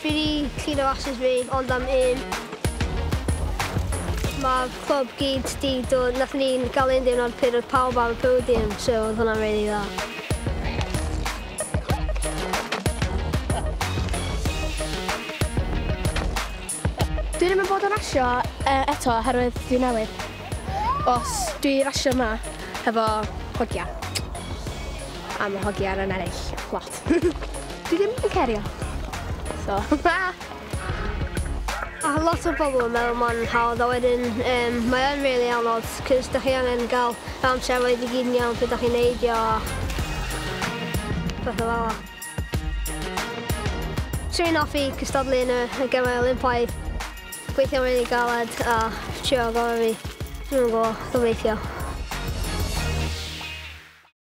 Fi wedi cleano rasys fi ond am un. Mae'r clwb gyd 'di dod... Nathon ni ga'l un diwrnod pryd oedd pawb ar y podium so oedd hwnna'n rili dda. Dwi ddim yn bod yn rasio yy eto oherwydd dwi newydd. Os dwi rasio 'ma hefo hogia a ma' hogia yn ennill lot. Dwi ddim yn cerio. So, ta! A lot o bobl yn meddwl mae'n hawdd a wedyn um, mae o'n really anodd cys da chi angen gael amser roedd i gyd yn iawn pryd da chi'n neidio a pethau fel Trin offi cystadlu yn y gemau Olympaidd, gweithio'n rili really galed a trio gorau fi. Dwi'n gwybod, gobeithio.